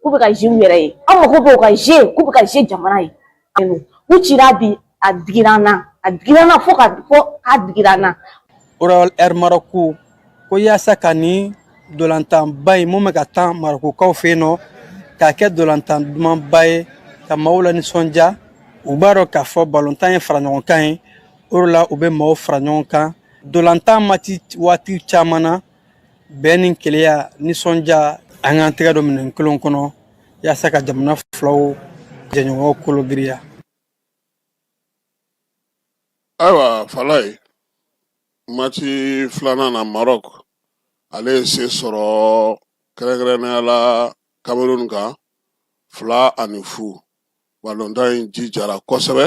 k'u bɛ ka jouer u yɛrɛ ye an mago bɛ u ka jouer k'u bɛ ka jouer jamana ye k'u cira bi a digira an na a digira an na fo ka fɔ k'a digira an na Royal Air Maroc ko yaasa ka nin dolantanba in mun bɛ ka tan marɔkukaw fɛ yen nɔ k'a kɛ dolantan dumanba ye ka maaw la nisɔndiya u b'a dɔn k'a fɔ balontan ye faraɲɔgɔnkan ye o de la u bɛ maaw fara ɲɔgɔn kan dolantan match waati caman na bɛn ni keleya nisɔndiya an k'an tɛgɛ don minɛn kelen kɔnɔ yaasa ka jamana filaw jɛɲɔgɔnw kologiriya ayiwa falaye mati filanan na marɔk ale ye se sɔrɔ kɛrɛnkɛrɛnnenya la kamerun kan fila ani fu balontan in jijara kosɛbɛ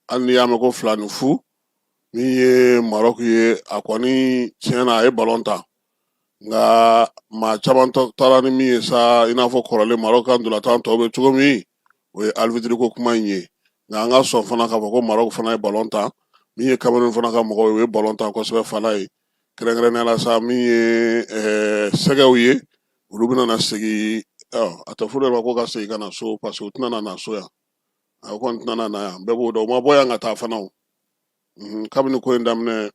hali n'i y'a mɛn ko fila ni fu min ye marɔk ye a kɔni tiɲɛ na a ye balon tan nka maa caman taara ni min ye sa i n'a fɔ kɔrɔlen marɔk ka ntolatan tɔw bɛ cogo min o ye arbitre ko kuma in ye nka an ka sɔn fana k'a fɔ ko marɔk fana ye balon tan min ye kamerun fana ka mɔgɔw ye o ye balon tan kosɛbɛ falaye kɛrɛnkɛrɛnnenya la sa min ye eh, sɛgɛw ye olu bɛna segin a tɛ fɔ olu ma ko ka segin ka na so parce que u tɛna na so yan a kɔni tɛna na yan bɛɛ b'o dɔn u ma bɔ yan ka taa fana o mhm, kabini ko in daminɛ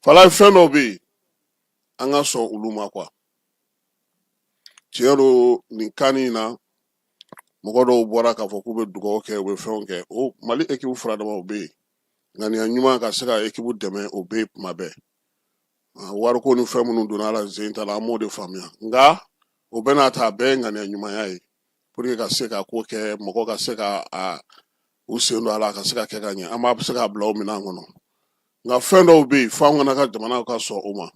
falaye fɛn dɔw bɛ yen an ka sɔn olu ma kuwa tiɲɛ don nin kan in na mɔgɔ dɔw bɔra k'a fɔ k'u bɛ dugawu kɛ u bɛ fɛnw kɛ o mali ekibu fura dama o bɛ yen ŋaniya ɲuman ka se ka ekibu dɛmɛ o bɛ yen kuma bɛɛ ah, wariko ni fɛn minnu donna ala zen ta la an m'o de faamuya nka o bɛɛ n'a ta a bɛɛ ye ŋaniya ɲumanya ye pour que ka se ka ko kɛ mɔgɔ ka se ka a u sen don a la ka se ka kɛ ka ɲɛ an bɛ se k'a bila o minɛn kɔnɔ nka fɛn dɔw bɛ yen f'an kana ka jamana ka sɔn o ma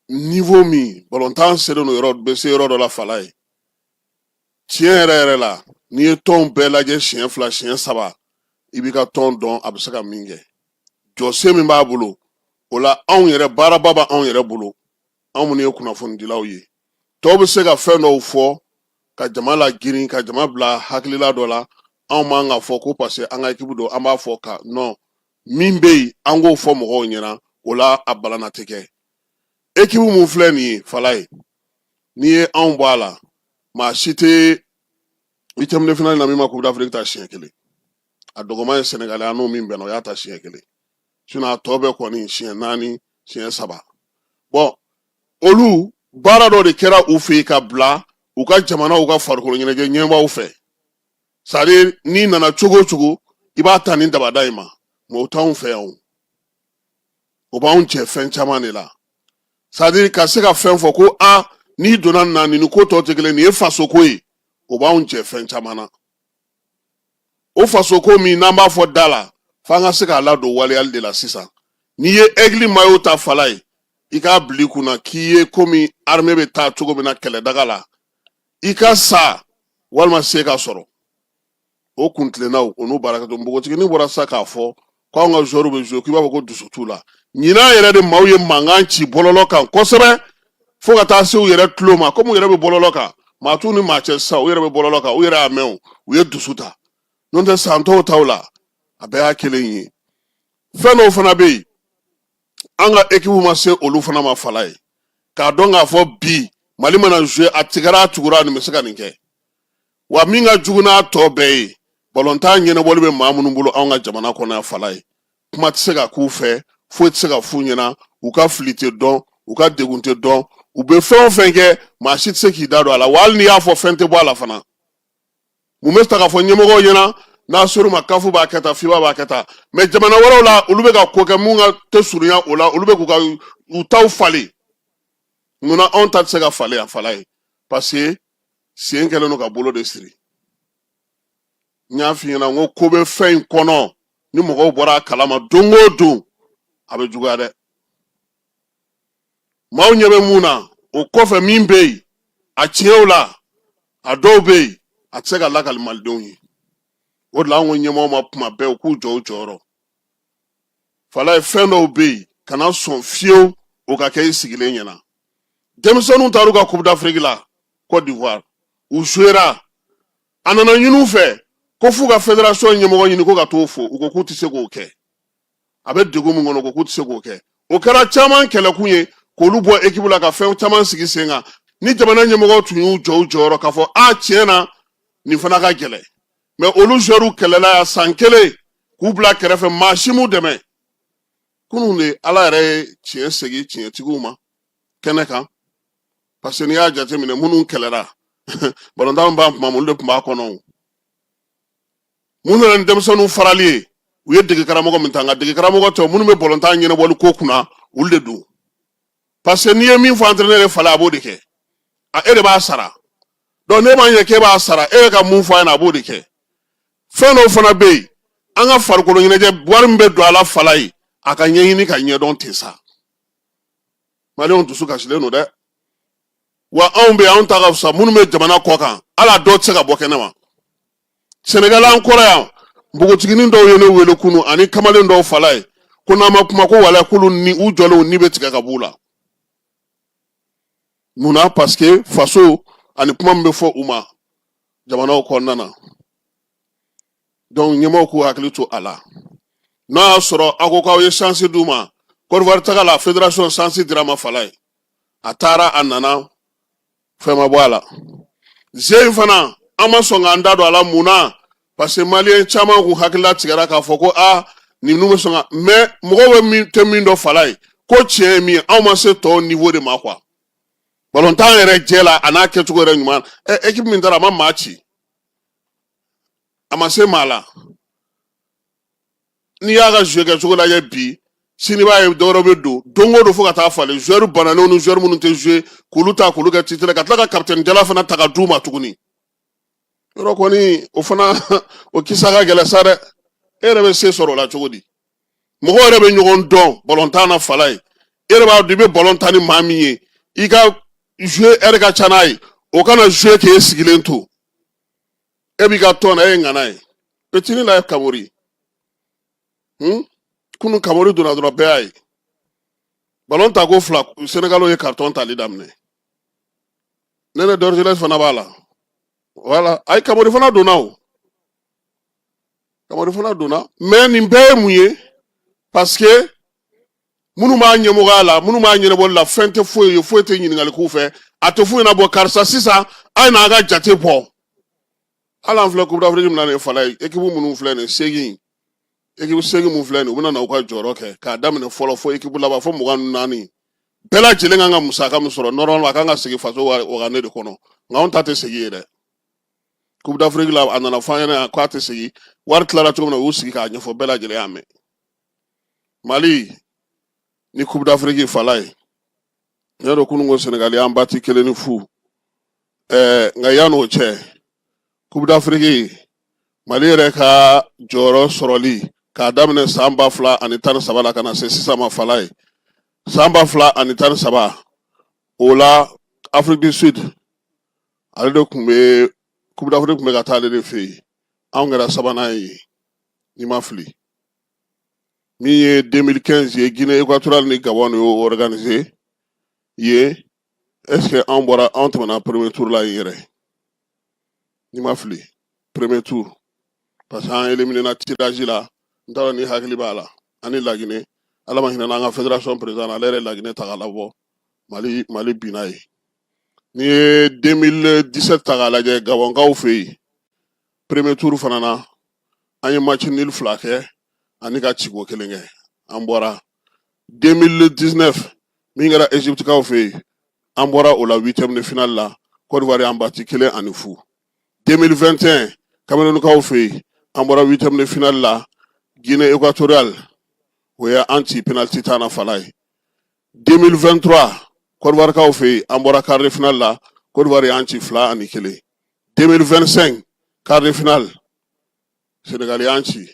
niwo min balontan selen don yɔrɔ bɛ se yɔrɔ dɔ la falaye tiɲɛ yɛrɛ yɛrɛ la n'i ye tɔnw bɛɛ lajɛ siɲɛ fila siɲɛ saba i b'i ka tɔn dɔn a bɛ se ka min kɛ jɔsen min b'a bolo o la anw yɛrɛ baaraba bɛ anw yɛrɛ bolo anw minnu ye kunnafonidilaw ye tɔw bɛ se ka fɛn dɔw fɔ ka jama lagirin ka jama bila hakilila dɔ la anw man k'a fɔ ko parce que an ka ekipu don an b'a fɔ ka non min bɛ yen an k'o fɔ mɔgɔw ɲɛna o la a balana tɛ kɛ ekipu mun filɛ nin ye falaye n'i ye anw bɔ a la maa si tɛ huitième de finale na min ma coupe d'afrique ta siɲɛ kelen a dɔgɔman ye sɛnɛgali an n'o min bɛnna o y'a ta siɲɛ kelen sinɔn a tɔ bɛɛ kɔni siɲɛ naani siɲɛ saba bɔn olu baara dɔ de kɛra u fɛ yen ka bila u ka jamanaw ka farikolo ɲɛnajɛ ɲɛmaaw fɛ sadiri n'i nana cogo o cogo i b'a ta ni dabada in ma mɛ o t'anw fɛ yan o b'anw jɛ fɛn caman de la sadiri ka se ka fɛn fɔ ko a n'i donna na nin ni ko tɔ tɛ kelen nin ye fasoko ye o b'anw jɛ fɛn caman na o fasoko min n'an b'a fɔ da la f'an ka se k'a ladon waleyali de la sisan n'i ye egili mayo ta falaye i k'a bila i kunna k'i ye komi arme bɛ taa cogo min na kɛlɛdaga la i ka sa walima se ka sɔrɔ o kuntilennaw o n'u baara kɛ to npogotiginin bɔra sa k'a fɔ ko anw ka zɔriw bɛ zuwe k'i b'a fɔ ko dusu t'u la ɲinan yɛrɛ de maaw ye mankan ci bɔlɔlɔ kan kosɛbɛ fo ka taa se u yɛrɛ tulo ma komi u yɛrɛ bɛ bɔlɔlɔ kan maa t'u ni maa cɛ sisan u yɛrɛ bɛ bɔlɔlɔ kan u yɛrɛ y'a mɛn o u ye dusu ta n'o tɛ san tɔw taw la a bɛɛ y'a kelen ye fɛn dɔw fana bɛ yen an ka ekipu ma se olu fana ma falaye k'a dɔn k'a fɔ bi mali mana zuwe a tigɛra a tugura nin bɛ se ka nin kɛ wa min ka jugu n'a tɔ bɛɛ ye balontan ɲɛnabɔli bɛ maa minnu bolo anw ka jamana kɔnɔ yan falaye kuma tɛ se ka k'u fɛ foyi tɛ se ka f'u ɲɛna u ka fili tɛ dɔn u ka degun tɛ dɔn u bɛ fɛn o fɛn kɛ maa si tɛ se k'i da don a la wa hali n'i y'a fɔ fɛn tɛ bɔ a la fana mun bɛ ta ka fɔ ɲɛmɔgɔw ɲɛna n'a ser'u ma kafu b'a kɛ tan fifa b'a kɛ tan mais jamana wɛrɛw la olu bɛ ka ko kɛ min ka tɛ surunya o la olu bɛ k'u ka u taw falen munna anw ta tɛ se ka falen a falaye parce que sen kɛlen don ka bolo de siri n y'a f'i ɲɛna n ko ko bɛ fɛn in kɔnɔ ni mɔgɔw bɔra a kala ma don o don a bɛ juguya dɛ maaw ɲɛ bɛ mun na o kɔfɛ min bɛ yen a tiɲɛw la a dɔw bɛ yen a tɛ se ka lakali malidenw ye o de la an ko ɲɛmɔgɔw ma kuma bɛɛ u k'u jɔ u jɔyɔrɔ falaye fɛn dɔw bɛ yen kana sɔn fiyewu o ka kɛ i sigilen ɲɛna denmisɛnninw taar'u ka coupe d'afrique la cote d'ivoire u jouera a nana ɲin'u fɛ ko f'u ka federation ɲɛmɔgɔ ɲini ko ka t'o fo u ko k'u tɛ se k'o kɛ a bɛ degun min kɔnɔ ko k'u tɛ se k'o kɛ o kɛra caman kɛlɛkun ye k'olu bɔ ekipu la ka fɛn caman sigi sen kan ni jamana ɲɛmɔgɔw tun y'u jɔ u jɔyɔrɔ k'a fɔ a tiɲɛ na nin fana ka gɛlɛn mais olu zɛriw kɛlɛla yan san kelen k'u bila kɛrɛfɛ maa si m'u dɛmɛ kunun de ala yɛrɛ ye tiɲɛ segin tiɲɛtigiw ma kɛnɛ kan parce que n'i y'a jateminɛ minnu kɛlɛra balontan b'a kuma olu de tun b'a kɔnɔ mun nana ni denmisɛnninw farali ye u ye dege karamɔgɔ min ta nka dege karamɔgɔ tɛ minnu bɛ balontan ɲɛnabɔli ko kunna olu de don parce que n'i ye min fɔ entraîneur ye falaye a b'o de kɛ e de b'a sara donc ne b'a ɲɛ k'e b'a sara e bɛ ka mun fɔ a ɲɛna a b'o de kɛ fɛn dɔw fana bɛ yen an ka farikoloɲɛnajɛ wari min bɛ don a la falaye a ka ɲɛɲini k'a ɲɛdɔn ten sa maliyɛnw dusu kasilen don dɛ wa anw bɛ anw ta ka fisa minnu bɛ jamana kɔkan hali a dɔw tɛ se ka bɔ kɛnɛ ma senegali an kɔrɔ yan npogotiginin dɔw ye ne wele kunu ani kamalen dɔw falaye ko n'an ma kuma ko walayi k'olu ni u jɔlenw ni bɛ tigɛ ka b'u la munna paseke faso ani kuma min bɛ fɔ u ma jamanaw kɔnɔna na donc ɲɛmɔgɔw k'u hakili to a la n'a y'a sɔrɔ aw ko k'aw ye sansi d'u ma cote d'ivoire taga la federation sansi dir'a ma falaye a taara a nana fɛn ma bɔ a la ze in fana an ma sɔn k'an da don a la mun na parce que maliyɛn caman kun hakili latigɛra k'a fɔ ko a ninnu bɛ sɔn ka mais mɔgɔ bɛ min tɛ min dɔn falaye ko tiɲɛ ye min ye anw ma se tɔw niwo de ma quoi balontan yɛrɛ jɛ la a n'a kɛcogo yɛrɛ ɲuman ɛ ekipi min taara a ma maa ci a ma se maa la n'i y'a ka zuwe kɛcogo lajɛ bi sini b'a ye dɔwɛrɛ bɛ don don o don fo ka taa falen zuwɛri bananenw ni zuwɛri minnu tɛ zuwe k'olu ta k'olu kɛ titre ka tila ka kapitɛni jala fana ta ka d'u ma tuguni yɔrɔ kɔni o fana o kisa ka gɛlɛn sa dɛ e yɛrɛ bɛ se sɔrɔ o la cogo di mɔgɔ yɛrɛ bɛ ɲɔgɔn dɔn balontan na falaye e yɛrɛ b'a dɔn i bɛ balon tan ni maa min ye i ka zuwe ɛri ka ca n'a ye o kana zuwe k'e sigilen to e b'i ka tɔn na e ye ŋana ye petini la ye kamori hmm? kunun kamori donna dɔrɔn bɛɛ y'a ye balon ta ko fila senegaliw ye karitɔn tali daminɛ nene dorgelès fana b'a la voilà ayi kamori fana donna o kamori fana donna mais nin bɛɛ ye mun ye parce que minnu b'a ɲɛmɔgɔya la minnu b'a ɲɛnabɔli la fɛn tɛ foyi ye foyi tɛ ɲininkali k'u fɛ a tɛ foyi na bɔ karisa sisan a ye n'an ka jate bɔ hali an filɛ coupe d'afrique min na nin falaye ekipu minnu filɛ nin segin ekipu segin mun filɛ nin u bɛna na u ka jɔyɔrɔ kɛ k'a daminɛ fɔlɔ fo ekipu laban fo mugan ni naani bɛɛ lajɛlen kan ka musaka min sɔrɔ normalement a kan ka segin faso wagane de kɔnɔ nka anw ta tɛ segin yen dɛ coupe d'afrique la a nana fɔ an ɲɛna k'a tɛ segin wari tilara cogo min na u y'u sigi k'a ɲɛfɔ bɛɛ lajɛlen y'a mɛn mali ni coupe d'afrique falaye ne yɛrɛ kunun ko senegali y'an bati kelen ni fu ɛɛ nka yan'o cɛ coupe d'afrique mali yɛrɛ ka jɔyɔrɔ sɔrɔli k'a daminɛ san ba fila ani tan ni saba la ka na se sisan ma falaye san ba fila ani tan ni saba o la afrique du sud ale de tun bɛ coupe d'afrique tun bɛ ka taa ale de fɛ yen anw kɛra sabanan ye n'i ma fili min ye 2015 ye guinée équatoriale ni gabon de y'o organise yen est ce que an bɔra an tɛmɛna premier tour la yen yɛrɛ n'i ma fili premier tour parce que an éliminena tirage la n t'a dɔn n'i hakili b'a la an ni laginɛ ala ma hinɛna an ka fédération président na ale yɛrɛ laginɛ ta k'a labɔ mali binna yen n'i ye 2017 ta k'a lajɛ gabɔnkaw fɛ yen premier tour fana na an ye match nul fila kɛ ani ka ciko kelen kɛ an bɔra 2019 min kɛra egypte kaw fɛ yen an bɔra o la huitième de finale la Côte d'Ivoire y'an bati kelen ani fu 2021 Cameroun kaw fɛ yen an bɔra huitième de finale la Guinée équatoriale o ye an ci penalty tan na falaye 2023 côte d'ivoire kaw fɛ yen an bɔra quart de finale la côte d'ivoire y'an ci fila ani kelen 2025 quart de finale sénégal y'an ci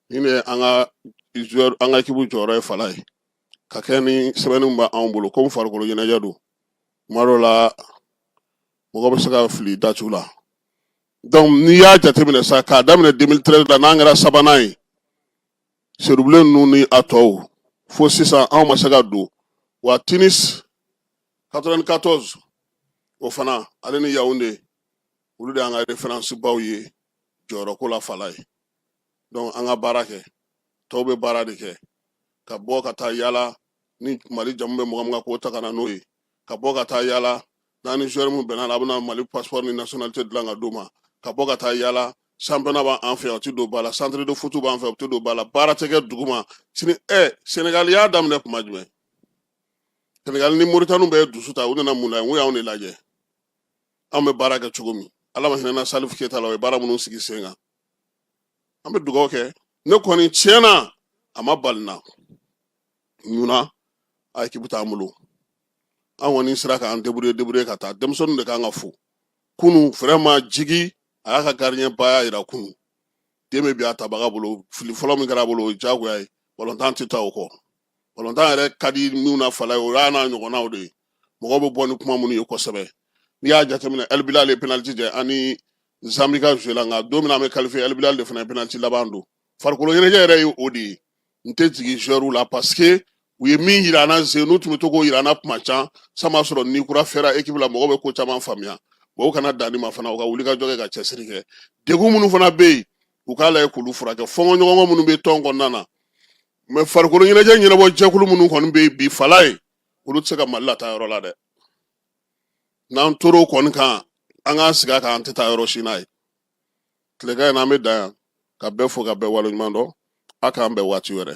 nin ye an ka ekipu jɔyɔrɔ ye falaye ka kɛ ni sɛbɛnni min b'an bolo komi farikolo ɲɛnajɛ don kuma dɔ la mɔgɔ bɛ se ka fili datiw la donc n'i y'a jateminɛ sa k'a daminɛ 2013 la n'an kɛra sabanan ye seyidubilen ninnu ni a tɔw fo sisan anw ma se ka don wa tunis 94 o fana ale ni yawunde olu de y'an ka referansi baw ye jɔyɔrɔko la falaye donc an ka baara kɛ tɔw bɛ baara de kɛ ka bɔ ka taa yala ni mali jamu bɛ mɔgɔ min kan k'o ta ka na n'o ye ka bɔ ka taa yala n'a ni joueur min bɛnna a bɛna mali pasipɔri ni nationalité dilan ka d'u ma ka bɔ ka taa yala championnat b'an fɛ yan o tɛ don ba la centre de foot b'an fɛ o tɛ don ba la baara tɛ kɛ dugu ma sini ɛ senegali y'a daminɛ kuma jumɛn senegali ni moritani bɛ dusu ta u nana mun na yen n ko y'anw de lajɛ anw bɛ baara kɛ cogo min ala ma hinɛ na salifu keyita la o ye baara minnu sigi sen kan an bɛ dugawu kɛ ne kɔni tiɲɛna a ma bali n na munna ekipu t'an bolo an kɔni sera k'an deburuye deburuye ka taa denmisɛnninw de kan ka fo kunu vraiment jigi a y'a ka gardien baya yira kunu den bɛ bin a tabaga bolo fili fɔlɔ min kɛra a bolo o ye diyagoya ye balontan tɛ taa o kɔ balontan yɛrɛ ka di minnu na falaye o y'a n'a ɲɔgɔnnaw de ye mɔgɔw bɛ bɔ ni kuma minnu ye kosɛbɛ n'i y'a jateminɛ ɛlibilali ye penaliti jɛ ani zanbi ka zuwe la nka don min an bɛ kalifiye ɛlibilali de fana ye penaliti laban don farikolo ɲɛnajɛ yɛrɛ ye o de ye n tɛ jigin joueurw la paseke u ye min yira an na ze n'u tun bɛ to k'o yira an na kuma can san b'a sɔrɔ ni kura fɛra ekipi la mɔgɔw bɛ ko caman faamuya o kana dan nin ma fana u ka wuli ka jɔ kɛ ka cɛsiri kɛ degun minnu fana bɛ yen u k'a lajɛ k'olu furakɛ fɔɲɔgɔnkɔ minnu bɛ tɔn kɔnɔna na mɛ farikolo ɲɛnajɛ ɲɛnabɔ jɛkulu minnu kɔni bɛ yen bi falaye olu tɛ se ka mali lataa yɔrɔ la dɛ n'an tora o kɔni kan an k'an sigi a kan an tɛ taa yɔrɔ si n'a ye tilegan in na an bɛ dan yan ka bɛɛ fo ka bɛɛ waleɲuman dɔn a k'an bɛn waati wɛrɛ